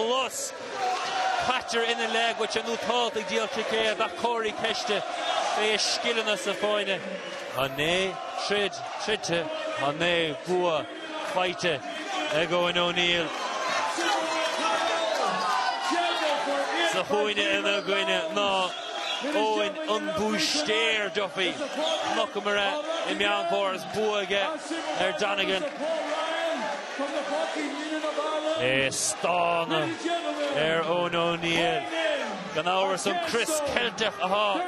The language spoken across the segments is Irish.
Plus, caitear ina leith go dtí nó táid ag díol ticéad ach cuirfí ceist fé a scileanna sa fáinne. Tá naoi troid troidte, tá naoi bhua faighte ag Eoin O'Neill sa chúinne ina gcoinne ná Eoin an Búistéir Duffy, Knock Murragh i Meán Fómhair is bua aige ar Donegan. É ag stánadh ar Eoin Ó Neill. Gan amhras an crios Ceilteach athá.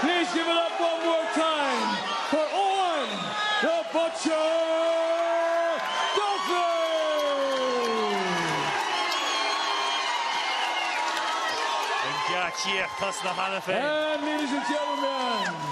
Please give it up one more time for Owen the Butcher! Cia tas na hanna fé. Ladies and gentlemen.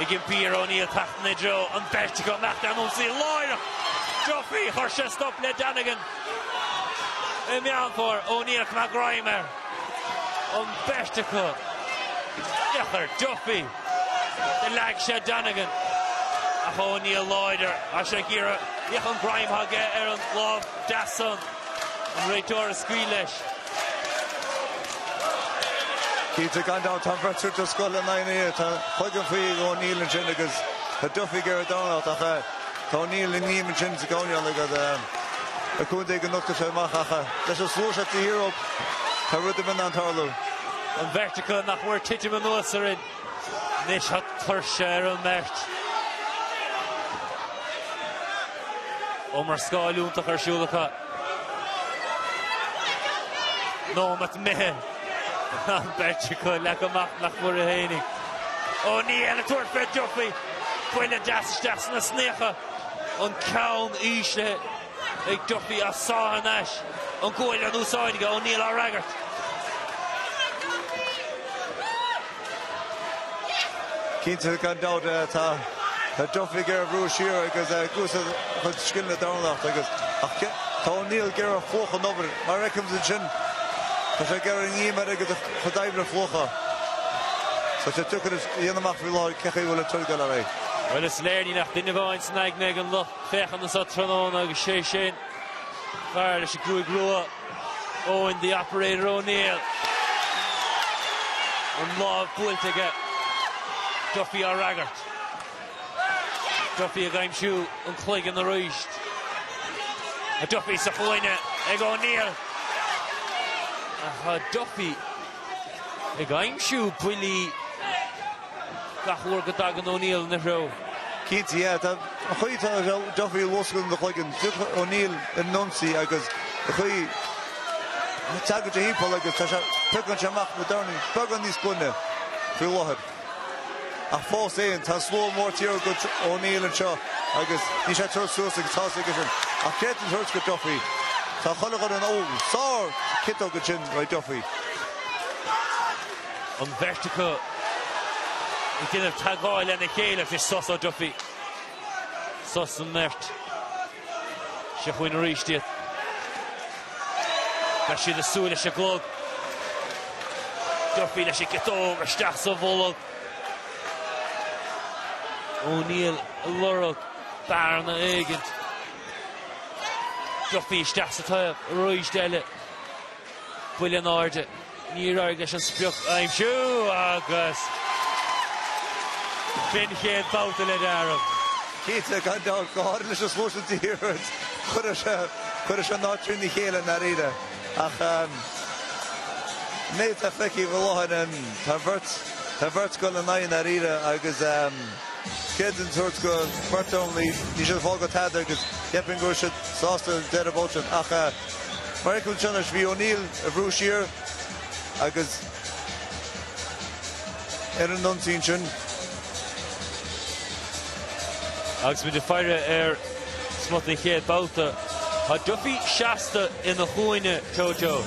Ag impí ar Ó Néill teacht ina threo an bheirt acu amach ar an ionsaí láithreach Duffy. Chuir sé stop le Donegan i Meán Fómhair. Ó Néill chun a ghreim ar an bheirt acu. Féach ar Duffy do leag sé Donegan ach Ó Néill láidir is é ag iarraidh. Féach an greim athá aige ar an lámh deas san. An réiteoir ag scaoileadh leis. Cinnte gan dabht tá an bheirt acu den scoth le Naomh Nia. Tá chuige an fao ag O'Neill ansin agus tá Duffy ag iarraidh dornálaíocht ach tá O'Neill i ngreim ansin sa gcomhneal agus le cúnamh Dé go nochtfaidh sé amach ach leis an slua seo de hero tá rud ar bith in ann tarlú. An bheirt acu nach mór ag titim anuas orainn. Anois tá tuirse ar an mbeirt. Iomrascáil iontach ar siúl acu. Nóimeat imithe. An beirt acu leagtha amach nach mór fhéinig. O'Neill ag tabhairt fé Duffy. Buille deas isteach sna heasnacha. An ceann íslithe. Ag Duffy ag sá thar n-ais an ghualainn in úsáid ag O'Neill á fhreagairt. Cinnte, gan dabht, tá Duffy ag iarraidh a bhrú siar agus ag úsáid a chuid scileanna dornálaíocht agus ach tá O'Neill ag iarraidh a phlúchadh an obair. Mar a fheicim ansin, tá sé ag iarraidh an greim air agus a chuid oibre a phlúchadh. Tá sé deacair a dhéanamh amach faoi láthair cén chaoi a bhfuil an troid ag dul ar aghaidh. Bhuel, is léir níl ach duine amháin san aigne ag an lucht féachana anseo tráthnóna agus sé sin an fear leis an ngruaig rua, Eoin the Operator O'Neill. An lámh buailte aige. Duffy á fhreagairt. Duffy ag aimsiú an chloigeann arís. Tá Duffy sa chúinne ag O'Neill. Tá Duffy ag aimsiú buillí gach uair go dtagann O'Neill ina threo. Cinnte, yeah. Tá, an chaoi a bhfuil Duffy ag luascadh an chloigeann, tiocfaidh O'Neill ar an ionsaí agus an chaoi a dtagann sé timpeall agus tá sé, piocann sé amach na dornaí beaga níos glaine faoi láthair. Ach fós féin, tá an slua mór taobh thiar de O'Neill anseo agus níl sé ag tabhairt suas go héasca ansin. Ach caithfear a thabhairt do Duffy? Tá chuile dhuine in Ó sárchiotóg ansin ó Duffy. An bheirt acu ag déanamh teagmháil lena chéile agus sos ó Duffy. Sos ón mbeirt. Sa chúinne arís. Déarfá beidh siad ag súil leis an gclog. Duffy leis an gciotóg isteach sa bholg. O'Neill ag lorg bearna éigint. Duffy isteach sa taobh arís eile. Buille in airde. Níor éirigh leis an sprioc a aimsiú agus sin an chéad babhta ag deireadh. Cinnte, gan dabht, go háirithe leis an spórt sa tír agus chuirfeadh sé an áit trína chéile i ndairíre ach an méid atá feicthe faoi láthair ann, tá an bheirt ag dul in aghaidh i ndairíre agus creideann an tUrd go bhfeictear iomlán níos ea fáil go tada agus cheapfainn go bhfuil siad sásta an deireadh babhta sin ach Mar gheall ar an teannas, bhí O'Neill á bhrú siar agus ar an ionsaí sin. Agus muid ag faire ar smut den chéad bhabhta, tá Duffy seasta ina chúinne, Jojo.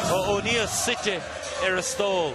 Tá O'Neill suite ar a stól.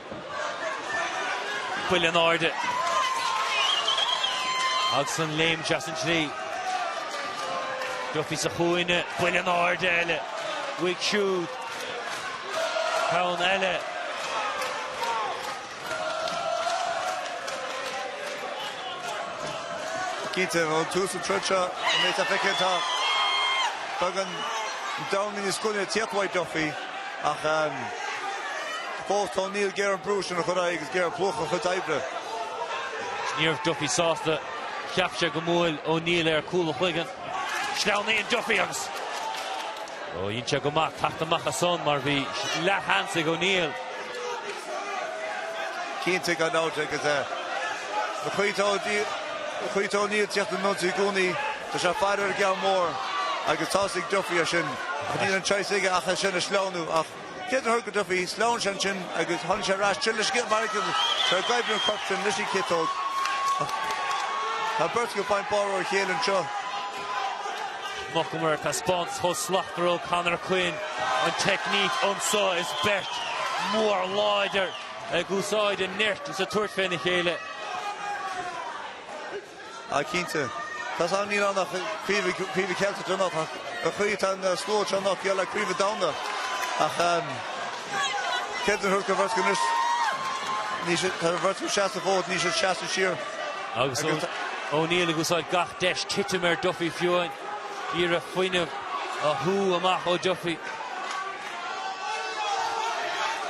Buille in airde agus an lámh dheas ansin tríd. Duffy sa chúinne, buille in airde eile. Uaidh siúd. Ceann eile. Cinnte, ón tús an troid seo, an méid atá feicthe, tá, tugann an domhan linn is cuimhne téapaí Duffy. Ach fós tá O'Neill ag iarraidh brú a chur ar aghaidh agus ag iarraidh plúchadh a chuid oibre. Níorbh Duffy sásta. Cheap sé gur bhuail O'Neill é ar cúl a chloigeann. Sleamhnaíonn Duffy agus. Ó, dhein sé go maith teacht amach as san mar bhí leathsheans ag O'Neill. Cinnte gan dabht agus caithfidh O'Neill teacht ar an ionsaí i gcónaí. Tá sé fada ar an gceann mór agus tá's ag Duffy as sin ach níl an chaoi aige ach é sin a shleamhnú ach caithfear a thabhairt go Duffy? Sleamhain sé ansin agus tháinig sé ar ais tríd le scéal mar fhreagra go dtí an corp sin leis an gciotóg ach tá an bheirt ag baint barr dá chéile anseo. Mar a chonaiceamar taispeáint chomh slachtmhar ó Conor Quinn, an teicníc anseo is beirt mhór láidir ag úsáid a nirt is a tabhairt féna chéile. Ah, cinnte. Tá's agam, níl ann ach craobh craobh Cheilteach anocht ach ar chaoi tá an slua seo anocht geall le craobh Domhanda ach creideann an bheirt acu anois ní sé tá an bheirt ag seasamh an fód níl siad ag seasamh siar agus O'Neill ag úsáid gach deis titim ar Duffy fiú ag iarraidh fuinneamh a shú amach ó Duffy.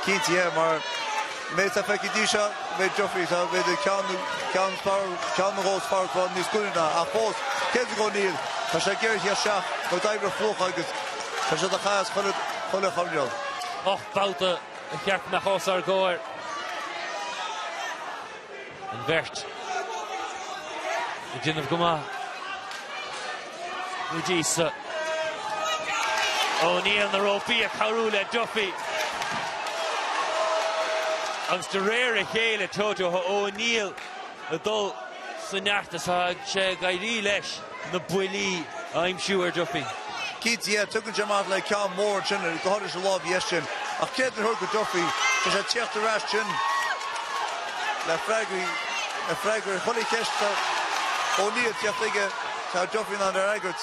Cinnte ea mar Mé sa pheacaí di seo, mé Duffy sa mhéid ag ceann ceann na gcos faireas bhán níos glaine ná ach fós. Céadraigh O'Neill, tá sé géar thíos seach, nó d'oibrigh fliuch agus tá sé do chas chuile le chor leo. Ocht mbabhta a cheart na cos ar gcomhair. An bheirt ag déanamh go maith go dtí seo. O'Neill na rópaí ag cabhrú le Duffy agus de réir a chéile Toto O'Neill ag dul i neart is tá sé ag éirí leis. na buillí a aimsiú ar Duffy. Cinnte, ea, tugann sé amach le ceann mór ansin, go háirithe sa lámh dheis sin. Ach caithfear a thabhairt go Duffy, tá sé ag teacht ar ais sin le freagraí, le freagraí. Chuile cheist atá Ó Néill ag teacht aige, tá Duffy in ann a fhreagairt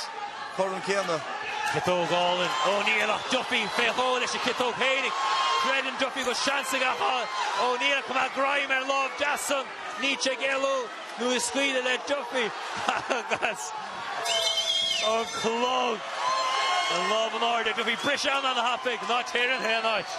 chomh tréan céanna. Ciotóg álainn ó O'Neill ach Duffy fé dhó leis an gciotóg féinig. Creideann Duffy go bhfuil seans aige ag an Ó Néill chomh maith greim ar lámh deas san, níl sé ag éalú. Nuair a scaoileadh le Duffy agus an clog, an lámh in airde, do bhí breis an-thapaidh ná téir in aon áit.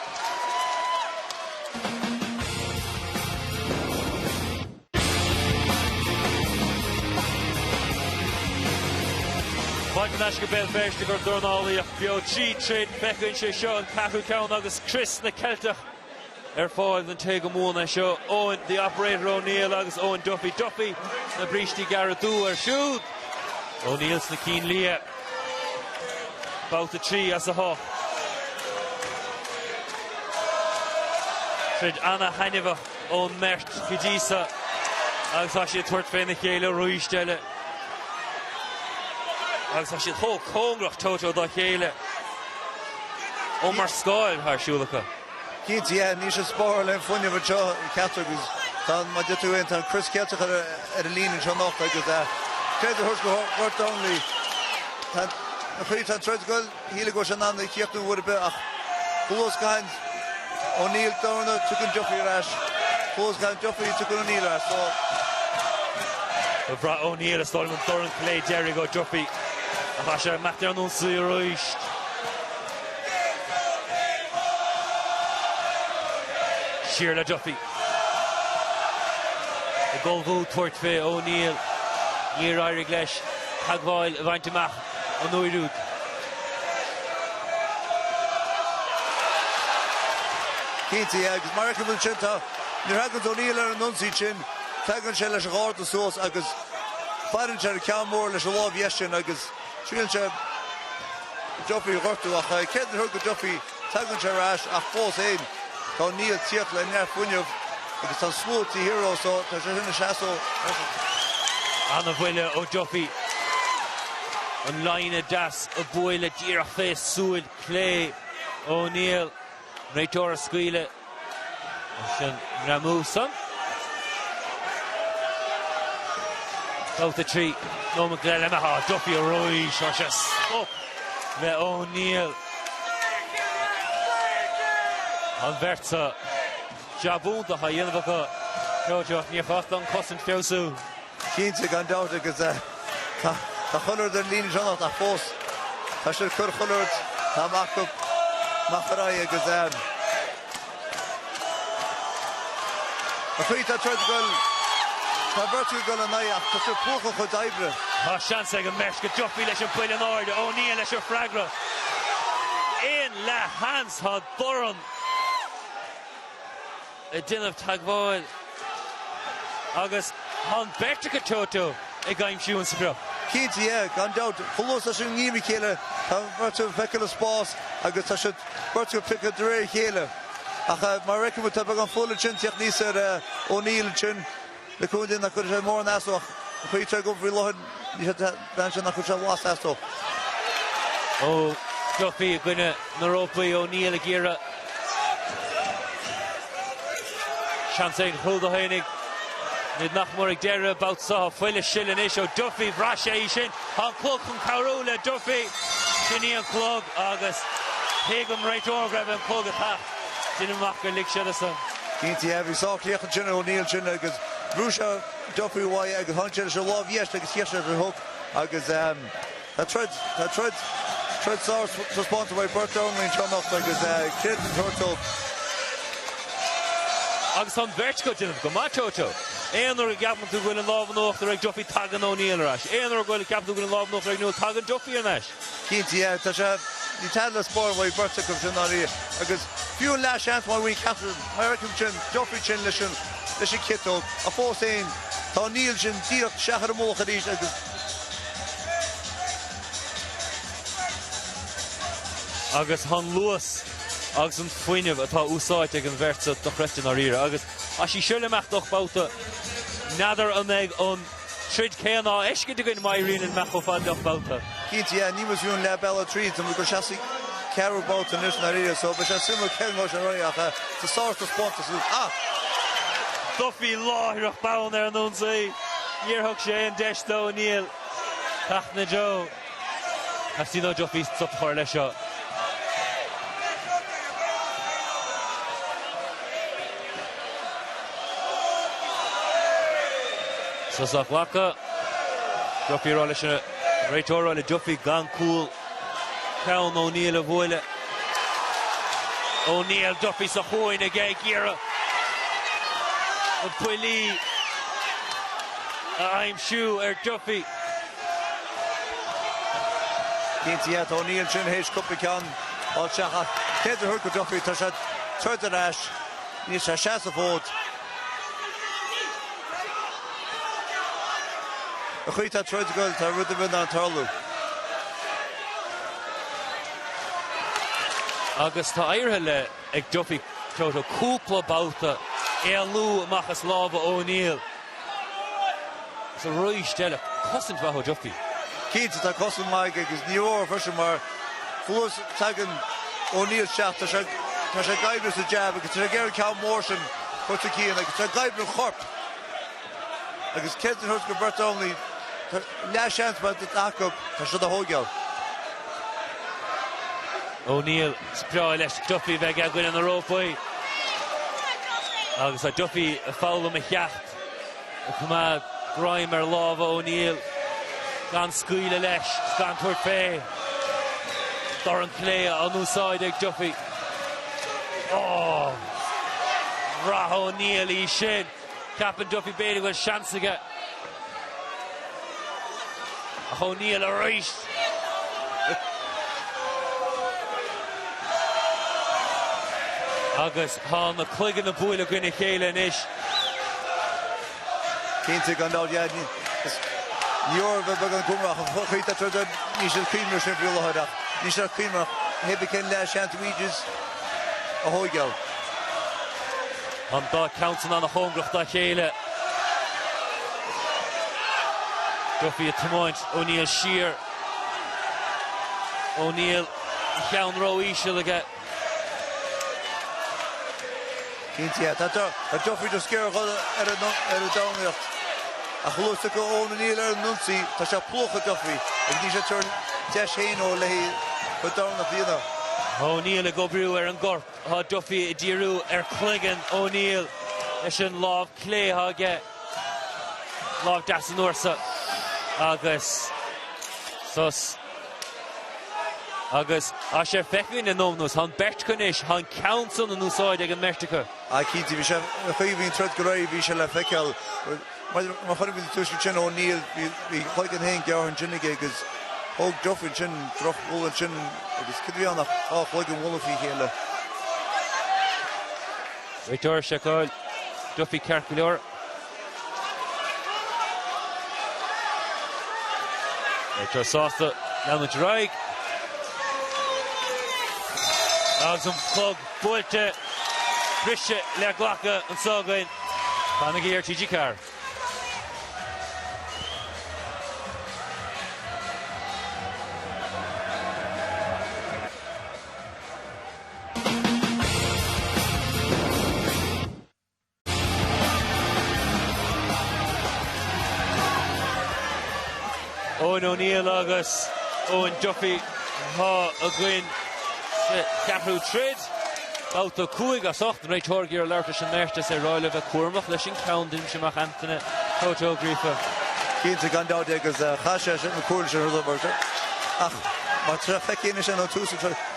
Maighe an aisce Béal Feirste go Dornálaíocht beo trí throid. Feicthe againn, seo an ceathrú ceann agus crios na gCeilteach. Ar fáil don té go mbuann é seo, Eoin 'The Operator' O'Neill agus Eoin Duffy 'Duffy' sna brístí gearra dubha air siúd. O'Neill sna cinn liatha. Babhta 3 as 8. Troid ana-thaitneamhach ón mbeirt go dtí seo agus tá siad ag tabhairt féna chéile arís eile. Agus tá siad chomh cóngarach, Toto, dá chéile. Iomrascáil atá ar siúl acu. Cinnte, Yeah, níl siad ag spáráil an fuinneamh anseo ceachtar acu is tá an, mar a deir tú ansin, tá an Crios Ceilteach ar ar an líne anseo anocht agus eh, ceart a thabhairt go Ghort Donnelly? Tá an, an chaoi atá an troid ag goil, shílfeá go raibh sé in ann é a chríochnú uair ar bith ach chomh luath is a gcaitheann O'Neill dorn, tiocfaidh Duffy ar ais. Chomh luath is a gcaitheann Duffy, tiocfaidh O'Neill ar ais. So. Bhraith O'Neill is dóigh liom an dorn clé deiridh ó Duffy ach tá sé imithe ar an ionsaí arís. Siar le Duffy. Ag ullmhú tabhairt fé O'Neill. Níor éirigh leis teagmháil a bhaint amach an uair úd. Cinnte, agus mar a fheiceann muid ansin, tá, nuair a thagann O'Neill ar an ionsaí sin, tagann sé leis an gharda suas agus faireann sé ar an ceann mór leis an lámh dheis sin agus. Triaileann sé Duffy a ghortú ach ceart a thabhairt go Duffy? Tagann sé ar ais ach fós fhéin tá O'Neill ag tíocht le neart fuinneamh agus tá an slua ag T-Hero so tá sé ina sheasamh. An-bhuille ó Duffy. An lámhainn dheas a buaileadh díreach fé shúil chlé O'Neill. An réiteoir á scaoileadh ansin, Ramu Sun. Babhta a trí nóiméad go leith imithe, Duffy arís, chuir sé stop le O'Neill. Tá an bheirt seo jab iontach á dhéanamh acu. Seoirse níor chás an chosaint a fheabhsú. Cinnte, gan dabht agus tá chuile rud ar an líne anseo anocht ach fós tá siad ag cur chuile rud atá acu amach ar aghaidh agus an chaoi atá an troid ag goil, tá beirt acu ag goil in aghaidh ach tá siad ag piocadh a gcuid oibre. Tá seans ag an mbeirt, Duffy leis an mbuille in airde, O'Neill leis an freagra. Aon leath sheans tá dorn. ag déanamh teagmháil agus tá an bheirt acu toe to toe ag aimsiú an sprioc. Cinnte, yeah, gan dabht. Chomh luath is tá siad i ngreim a chéile tá beirt acu ag feiceáil an spás agus tá siad beirt ag piocadh de réir a chéile. Ach mar a fheiceann muid tá beagán fola ansin ag tíocht aníos ar O'Neill ansin Le cúnamh Dé nach gcuirfidh sé mórán as dó. An chaoi atá an troid ag goil faoi láthair ní sé de bhean sin nach gcuirfidh sé blas as dó. Ó Duffy i gcoinne na rópaí, O'Neill ag iarraidh seans ag an chúl do tháinig. Táimid nach mór ag deireadh babhta so, tá fuil ag sileadh anois ó Duffy bhraith sé í sin tá an clog chun cabhrú le Duffy sin í an clog agus thuig an réiteoir go raibh an clog ag Déanann amach gur lig siad as an. Cinnte, yeah. Bhí sách laoch ansin O'Neill ansin agus bhrúigh sé Duffy uaidh agus tháinig sé leis an lámh dheis agus chaith sé an hook agus tá troid, tá troid, troid sárthaispeántas ó bheirt dornálaí anseo anocht agus creidiúint a thabhairt dóibh. Agus tá an bheirt ag déanamh go maith Toto. Aon uair a gceapann tú go bhfuil an lámh in uachtar ag Duffy tagann O'Neill ar ais. Aon uair a bhfuil a gceapann tú go bhfuil an lámh in uachtar ag O'Neill tagann Duffy ar ais. Cinnte, yeah. Tá sé níl tada le spáráil mhaith beirt acu i ndáiríre agus fiú an leathseans má bhíonn ag ceachtar, mar a chonaic muid ansin, Duffy ansin leis an leis an ciotóg, ach fós fhéin, tá O'Neill ansin ag tíocht isteach ar a mhullach arís agus. agus an luas agus an fuinneamh atá á úsáid ag an bheirt seo dochreidte i ndáiríre agus. Tá sí seo le himeacht ocht mbabhta, n'fheadar an mbeidh an. troid chéanna á fheiscint againn má ritheann an meaits chomh fada le hocht babhta. Cinnte, yeah, níl muid fiú leath bealaigh tríd, tá muid ag goil isteach sa gceathrú babhta anois dáiríre, so beidh sé suimiúil cén nós a rachaidh eh, tá sárthaispeántas anocht, ah! Duffy láithreach bonn ar an ionsaí, níor thug sé aon deis do O'Neill teacht ina threo. Teastaíonn ó Duffy stop a chur leis seo. Sos á ghlacadh. Duffy a rá leis an réiteoir a rá le Duffy gan cúl ceann O'Neill a bhualadh. O'Neill, Duffy sa chúinne aige ag iarraidh na buillí a aimsiú ar Duffy. Cinnte, yeah, tá O'Neill ansin théis cúpla ceann a sheachaint. Caithfidh tú a thabhairt go Duffy tá sé ag troid ar ais. Níl sé ag seasamh an fhóid. An chaoi atá an troid ag goil tá rud ar bith in ann tarlú. Agus tá éirithe le ag Duffy Toto cúpla babhta éalú amach as lámha O'Neill. Is arís eile cosaint mhaith ó Duffy. Cinnte tá cosaint mhaith aige agus ní mór dó freisin mar thuas tagann O'Neill isteach, tá sé tá sé ag oibriú sa jab agus tá sé ag iarraidh an ceann mór sin a chur sa gceann agus tá ag oibriú an chorp agus creidiúint a thabhairt go beirt dornálaí tá leathseans má bhíonn acu tá siad á thóigeáil. O'Neill. Is breá leis Duffy bheith i gcoinne na rópaí agus tá Duffy ag foghlaim a cheacht, ag coimeád greim ar lámha O'Neill gan scaoileadh leis is gan tabhairt fé dorn clé in úsáid ag Duffy. Ohh! Bhraith O'Neill í sin. Ceapann Duffy b'fhéidir go bhfuil seans aige ach O'Neill arís. Agus tá na cloigeanna ag bualadh i gcoinne a chéile anois. Cinnte gan dabht, yeah, ní, is, níor bheag an cuma ach an chuid a troid an, níl siad ag cuimhneamh air sin faoi láthair ach níl siad ag cuimhneamh, maybe cén leath seans is féidir a thóigeáil. An dá cheann san ana chóngarach dá chéile. Duffy ag tiomáint, O'Neill siar. O'Neill an ceann ró-íseal aige. Cinnte, tá Duffy ag iarraidh a dhul ar an dornálaíocht ach luaigh tú go Eoin O'Neill ar an ionsaí, tá sé ag plúchadh Duffy agus níl sé ag tabhairt deis féin dó léi chun domhan a mhíniú. O'Neill ag oibriú ar an gcorp. Tá Duffy ag díriú ar chloigeann O'Neill leis an lámh clé atá aige, lámh deas an uair seo agus sos. Agus tá sé feicthe againn le nóiméad anuas, tá an bheirt acu anois, tá an ceann san in úsáid ag an mbeirt acu. Á cinnte, bhí sé ina shuí, bhí an troid go réidh, bhí sé le feiceáil. Maidir le chur faoi tuiscint sin O'Neill, bhí a chloigeann féin gearrtha ansin aige agus thóg Duffy ansin drochbhuille ansin agus cad a bhí ann ach dhá chloigeann ag bualadh faoi chéile. Réiteoir ag seiceáil Duffy ceart go leor. Réiteoir sásta leanúint ar aghaidh. Agus an clog Buailte briseadh le glacadh anseo againn. Fanaigí ar TG4. Eoin O'Neill agus Eoin Duffy atá againn sa cheathrú troid. Babhta 5 as 8 réiteoir ag labhairt leis an mbeirt agus ag rá leo a bheith cúramach leis an ceann uaidh seo amach Antaine Toto Ó Gríofa. Cinnte, gan dabht, agus caithfidh sé sin, an chomhairle sin a thabhairt don mbeirt sin. Ach má feicfidh éinne sin ón tús an troid,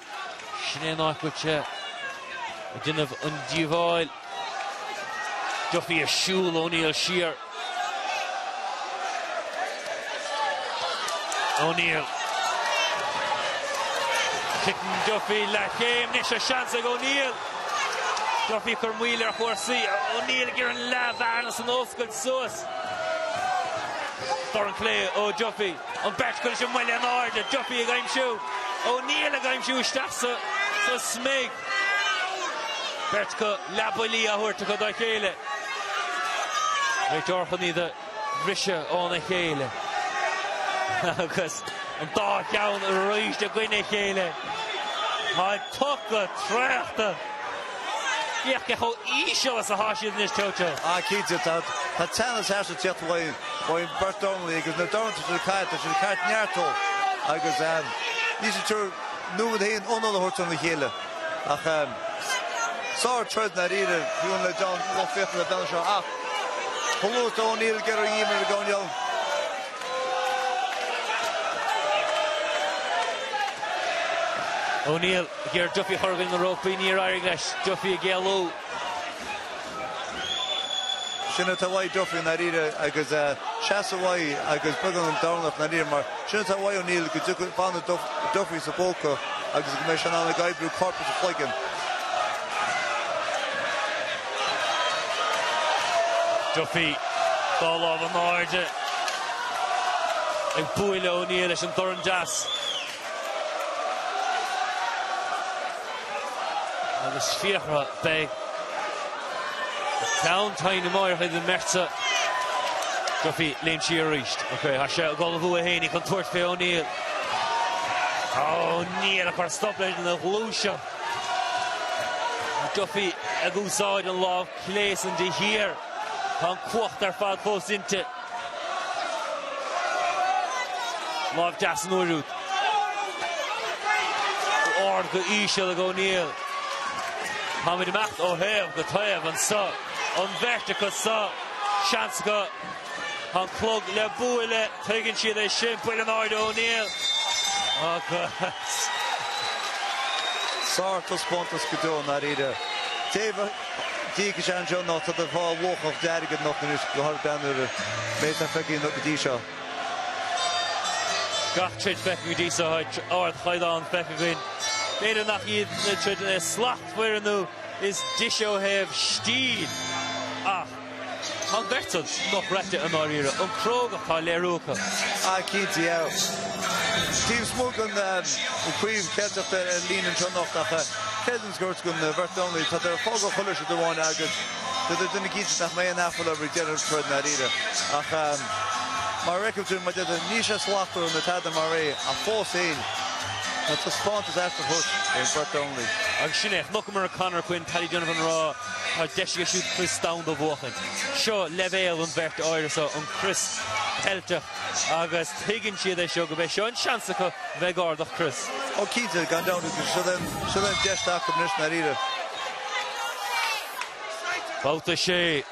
Sin é an áit a bhfuil tú ag déanamh an díobháil. Duffy ag siúl, O'Neill siar. O'Neill. Titeann Duffy, leathchéim, anois tá seans ag O'Neill. Duffy ag cur moill ar chúrsaí. O'Neill ag iarraidh an leathbhearna san a oscailt suas. Dorn clé ó Duffy. An bheirt acu leis an mbuille in airde. Duffy ag aimsiú. O'Neill ag aimsiú isteach sa smig. Beirt acu leathbhuillí á thabhairt acu dá chéile. Réiteoir chun iad a bhriseadh óna chéile agus an dá cheann arís i gcoinne a chéile. Táid tugtha traochta. Féach cé chomh íseal is atá siad anois, Choco. Ah, cinnte, tá tá teannas arsa Tiat Laighin. Bhfaighidh beirt dornálaí agus na doirne sin caite, tá siad caite neartú agus ehm, níl siad ag tabhairt nóiméad féin anála a thabhairt óna chéile ach ehm, sár troid ndáiríre, bhí ionadh le John Ó Fiaich le bean seo ach ba lú do O'Neill geireadh a dhíol mar a gabhann leo. O'Neill. Ag cur Duffy i gcoinne na rópaí, níor éirigh leis Duffy ag éalú. Sin atá uaidh Duffy i ndáiríre agus seasamh uaidh agus beagann an dorn as i ndáiríre mar sin atá uaidh O'Neill go bhfanann Duffy sa phóca agus go mbeidh sé in ann ag oibriú corp agus cloigeann. Duffy dá lámh in airde ag bualadh le O'Neill leis an dorn deas. Agus Fiachra beidh an ceann tinn amárach ag an mbeirt seo, Duffy ag léim siar arís. Ok, tá sé ag dul uaidh féinig chun tabhairt fé O'Neill. O'Neill ag cur stop leis an ghluaiseacht. Duffy ag úsáid an lámh clé san de shíor. Tá an cumhacht ar fad fós inti. Lámh deas an uair úd. Go ard, go íseal ag O'Neill. Táimid ag imeacht ó thaobh go taobh anso. An bheirt acu so. Seans acu. Tá an clog le bualadh. Tuigeann siad é sin. Buille in airde O'Neill. Agus. Sár taispeántas go deo, ndáiríre. Taobh. Diaidh Jan John ná tá do bhá luachach dearg ag nocht anois go hard bean ar an méid atá feicthe anocht go dtí seo. Gach troid feicthe go dtí seo tá ardchaighdeán feicthe againn. B'fhéidir nach iad na troid is slachtmhaire nó is deise ó thaobh stíl ach. Tá an bheirt san scoth braite i ndáiríre, an chrógacht atá léirithe acu. Ah, cinnte, yeah. Steve Smug an craobh Ceilteach ar líne anseo anocht, ach creideann an scoirt go na beirt dornálaí tádar ag fágáil chuile siad amháin agus tádar ag déanamh cinnte nach mbeidh aon aiféala ag deireadh an troid i ndáiríre. Ach mar a fhreacail tú, má d'fhéadfainn, níl sé slachtmhar ná tada mar é, ach fós fhéin, tá taispeántas aisteach tugtha ag an bheirt dornálaí. Agus sin é, chonaiceamar ag Conor Quinn, Paddy Donovan a rá. Tá deis aige siúd crios domhanda a bhuachaint. Seo leibhéal an bheirt áirithe seo, an crios Ceilteach, agus tuigeann siad é seo go bheidh seo an seans acu bheith ag ardach crios. Ó cinnte, gan dabht agus seo é an seo é an deis acu anois ndáiríre. Babhta 6.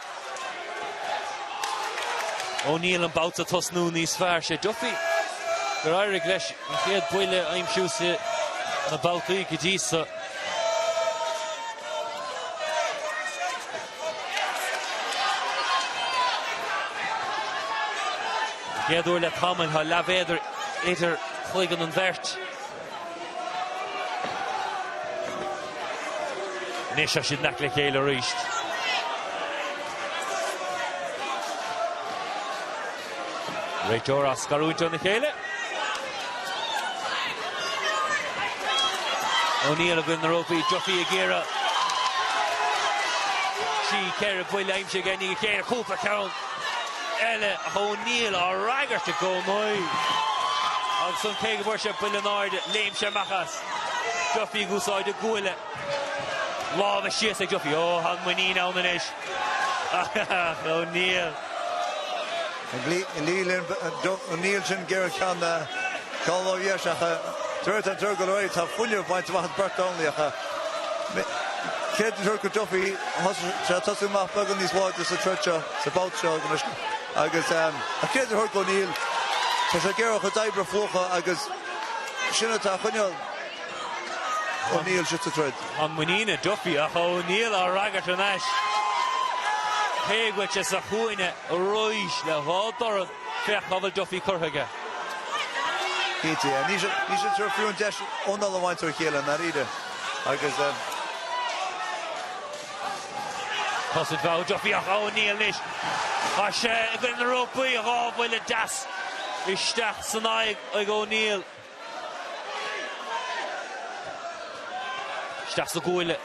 O'Neill an babhta tosnú níos fearr. 'Sé Duffy gur éirigh leis. An chéad buille a aimsiú sna babhtaí go dtí seo. An chéad uair le tamall tá leathmhéadar idir chloigeann an bheirt. Anois tá siad in aice le chéile arís. Réiteoir á scarúint óna chéile. O'Neill i gcoinne na rópaí, Duffy ag iarraidh trí ceithre buille a aimsiú aige, i ndiaidh a chéile, cúpla ceann eile ach O'Neill á fhreagairt i gcónaí ansan cé go bhfuair sé buille in airde, léim sé amach as. Duffy ag úsáid a guaille. Lámha síos ag Duffy, ó, tá an muinín ann anois ach O'Neill. Níl sin géar ceann na Ceol ó Dheas ach dúirt an Tiarna go léir, tá fuinneamh ag baint amach ag beirt dornálaí. Creidiúint do Duffy, tá sé ag tosú amach beagán níos láidre sa troid seo, sa bhabht seo anois agus creidiúint do O'Neill, tá sé géar chomh doibre fúthu agus sin atá ag choinneáil. O'Neill istigh sa troid. An muinín i Duffy ach O'Neill á fhreagairt thar n-ais. Cé go bhfuil sé sa chúinne arís le dhá dorn féach cá bhfuil Duffy curtha aige. Cinnte, yeah. Ní sin seo fiú an deis O'Neill a bhaint ó chéile i ndáiríre agus. Thosaigh feabhas Duffy ach O'Neill anois. Tá sé i gcoinne na rópaí, dhá bhuille deas isteach san aghaidh ag O'Neill. Isteach sa gcabhail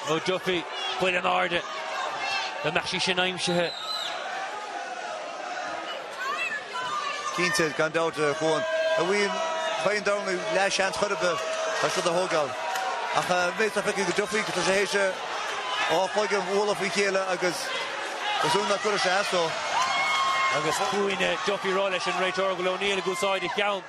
ó Duffy, buille in airde dá mbeadh sé sin aimsithe. Cinnte, gan dabht a Chuáin. Ní fhaigheann O'Neill leathsheans chor ar bith as rud a thógáil. Ach tá mé ag feicthe go Duffy, tá sé th'éis a dhá chloigeann bualadh faoi chéile agus is ionadh nach gcuireadh sé as dó. Agus cúinne Duffy ag rá leis an réiteoir, go bhfuil O'Neill ag úsáid a cheann.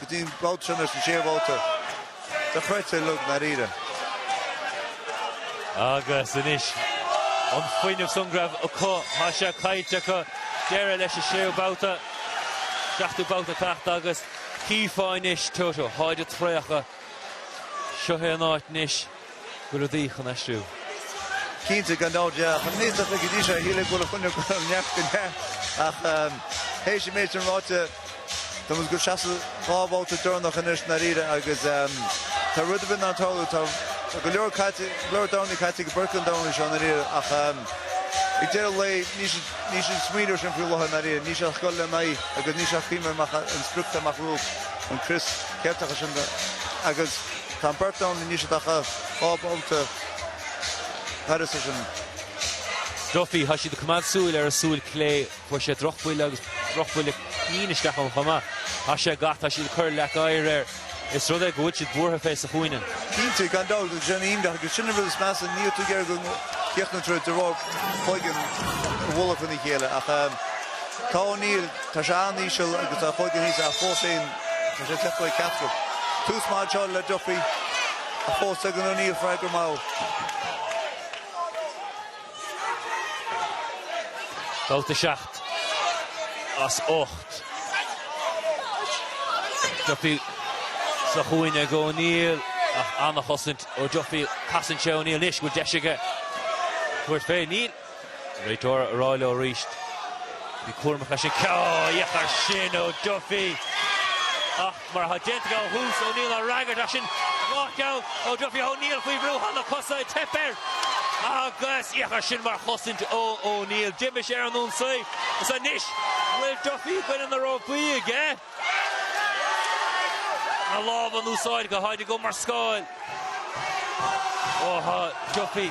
go dtí an babhta sin ar sa sé bhabhta dochreidte dlúth i ndáiríre. Agus anois an fuinneamh san go raibh acu, tá sé caite acu deireadh leis an séú babhta, seachtú babhta ag teacht agus chífeá anois tá, tá, táid traochta, seo é an áit anois. Go rudaí chun aistriú. Cinnte, gan dabht, yeah. Chun mí sata go dtí seo, shíl ag dul a choinne go raibh neart go neart, ach théis an méid sin ráite, táimid ag dul isteach sa dá bhabhta deireanach anois ndáiríre agus tá rud ar bith in ann tarlú. Tá go leor caite, go leor dornaí caite ag beirt an dornálaí seo ndáiríre ach ag deireadh lae níl siad, níl siad ag smaoineamh ar sin faoi láthair ndáiríre. Níl siad ach ag goil ar aghaidh agus níl siad ach ag cuimhneamh ar an sprioc tá amach rompu. An Crios Ceilteach is ea sin do, agus. Tá an beirt ann anois atá dhá bhabhta thairis leis an. Duffy. Tá siad ag coimeád súil ar a súil clé. Fuair sé drochbhuille agus drochbhuille cinn isteach ón chuma. Tá sé gach tá siad ag cur leac oighir air. Is rud é go bhfuil siad buartha fé sa chúinne. Cinnte, gan dabht agus sin aoinne acu. Sin an rud is measa, níl tú ag iarraidh go gcríochnódh an troid de bharr cloigne ag bualadh in a chéile ach tá O'Neill, tá sé an-íseal agus tá a chloigeann thíos ach fós féin. Tá sé tiochta ag Ceathrú. Tús maith anseo le Duffy ach fós tugann O'Neill freagra mall. Babhta 7 as 8. Duffy sa chúinne ag O'Neill ach an-chosaint ó Duffy. Casann sé O'Neill anois an bhfuil deis aige tabhairt fé. Níl. Réiteoir á rá leo arís bheith cúramach ansin. Sea, féach air sin ó Duffy ach mar atá déanta aige ó thús, O'Neill á fhreagairt ach sin dhá cheann ó Duffy. O'Neill faoi bhrú, tá na cosa ag teip air agus féach air sin mar chosaint ó O'Neill. D'imigh sé ar an ionsaí agus anois bhfuil Duffy i gcoinne na rópaí aige. na lámha in úsáid go hard aige mar scáil. Ó tá Duffy,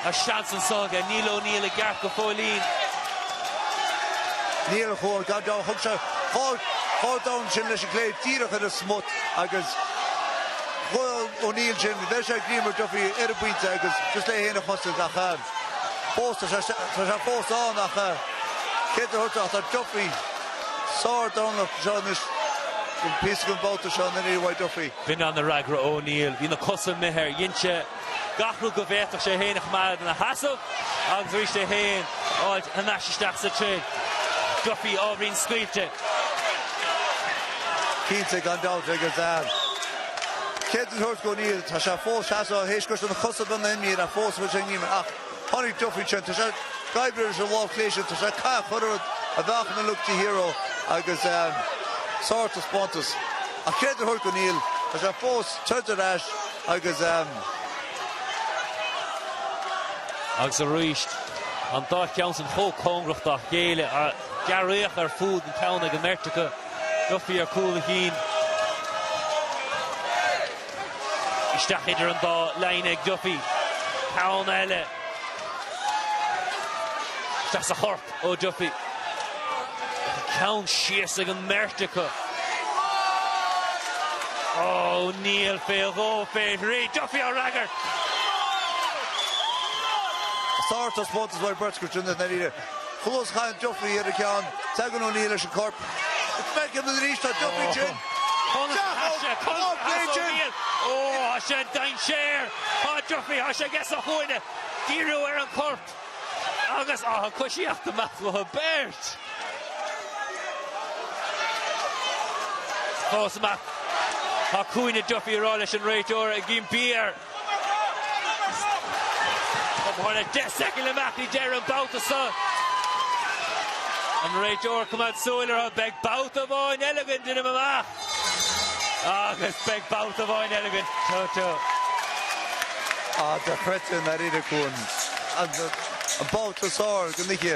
tá seans anso aige, níl O'Neill i gceart go fóillín. Níor chóir gan dabht, thug sé chor chor dorn ansin leis an gclé díreach ar an smut agus chuir O'Neill sin, bheir sé greim ar Duffy ar an bpointe agus just le é féin a chosaint ach fós tá sé fós ann ach credit a thabhairt do Duffy. Sárdhorn do seo anois an píosa den bhabhta seo na Nia Mhaigh Duffy. B'in an a fhreagra O'Neill. Bhí na cosa imithe air, dhein sé gach rud go bhféadfadh sé é féin a choimeád ina sheasamh agus arís é féin a fháilt anois isteach sa troid. Duffy ábhairín scaoilte. Cinnte, gan dabht, agus credit a thabhairt go O'Neill. Tá sé fós seasamh tharr théis go raibh na cosa beagnach imithe ach fós a bhfuil sé a ngíomar ach. Tháinig Duffy ansin, tá sé ag oibriú ar an bhfáth pléisiúil, tá sé cath chor ar fhad a bheadh ina look de hero agus sár taispeántas. Ach credit a thabhairt go O'Neill, tá sé fós ag troid ar ais agus. Agus arís, an dá cheann sin chomh cóngarach dá chéile, gearraíocha ar fud an ceann ag an mbeirt acu, Duffy ar cúl a chinn. Isteach idir an dá lámh ag Duffy. Ceann eile. Isteach sa chorp ó Duffy. An ceann síos ag an mbeirt acu. O'Neill fé dhó fé thrí. Duffy á fhreagairt. Sárt, I suppose, is bhfearr beirt go dtí na daoine. Thuas tháinig Duffy ar an cheann, tagann O'Neill leis an gcorp. Is feicthe liom arís, tá Duffy tinn. Chaithfeadh Conor Cleese O'Neill. Ó, tá sé i ndainséar. Tá Duffy, tá sé aige sa chúinne. Díriú ar an chorp agus an choisíocht go maith leis an mbeirt fós maith. Tá cúinne Duffy ag rá leis an réiteoir ag Ian Beare. Tá thart ar 10 soicind amach i deireadh an bhabhta seo. An réiteoir ag coimeád súil orthu. Beidh babhta amháin eile againn d'fhuinneamh amach. Agus beidh babhta amháin eile againn. Teo teo. Á, dochreidte nár éirigh uainn an babhta sár go dtí.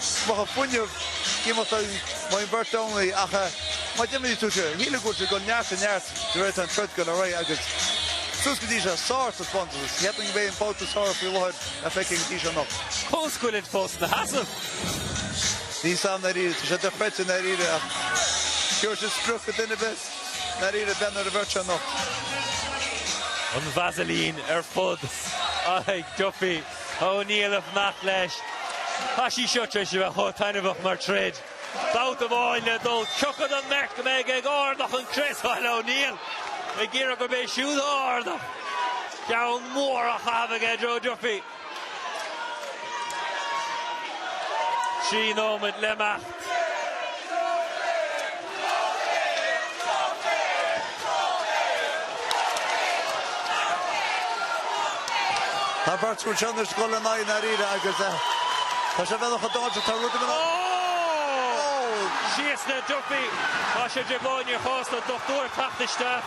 Bheadh fuinneamh iomarca ag an mbeirt Domhnaigh ach má d'imigh tú siar, shíl, ag dul ó neart go neart de réir an troid go raibh agus suas go dtí seo sár taispeántas. Cheap mé go mb'é an babhta is fearr faoi láthair atá feicthe go dtí seo anocht. Cos chuilinn fós na sheasamh. Níl a fhios agam dáiríre, Tá sé dochreidte dáiríre ach Dúir sé spruch go duine best dáiríre den bheirt anocht. An Vaseline ar fud a ag Duffy. Ó Neill ag fanacht leis. Tá sí seo tar éis a bheith chomh taitneamhach mar troid. Babhta amháin le dul, cé acu den mbeirt go mbeidh ag ardú an chrios thall. Ó Neill ag iarraidh gurb é siúd a ardódh. Ceann mór á chaitheamh aige Joe Duffy. Trí nóiméad le imeacht. Tá beirt chun seo anois dul in aghaidh dáiríre agus tá sé bhealach a d'fháilte, tá rud ag an. Síos le Duffy, tá sé de dhóigh níor chósta an dochtúir teacht isteach.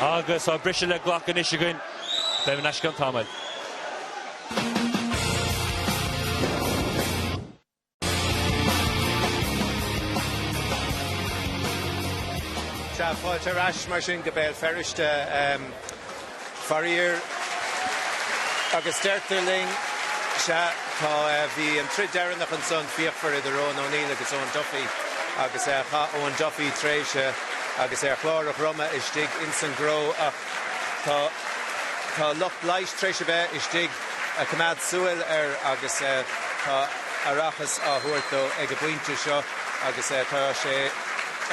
Agus tá briseadh le glacadh anois againn. Beimid ar ais i gceann tamaill. Tá fáilte ar ais mar sin go Béal Feirste. Faraíor, agus deirtear linn, sea, tá, bhí an troid dheireanach ansan fíochmhar idir Eoghan O'Neill agus Eoin Duffy agus chaith Eoin Duffy tréimhse agus é ar chlár a dhroma istigh ins an gcró ach tá, tá lucht leighis tréis a bheith istigh a' coimeád súil air agus tá ocsaigin á thabhairt dó ag a' bpointe seo agus tá sé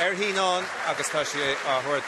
ar shíneán agus tá sé á thabhairt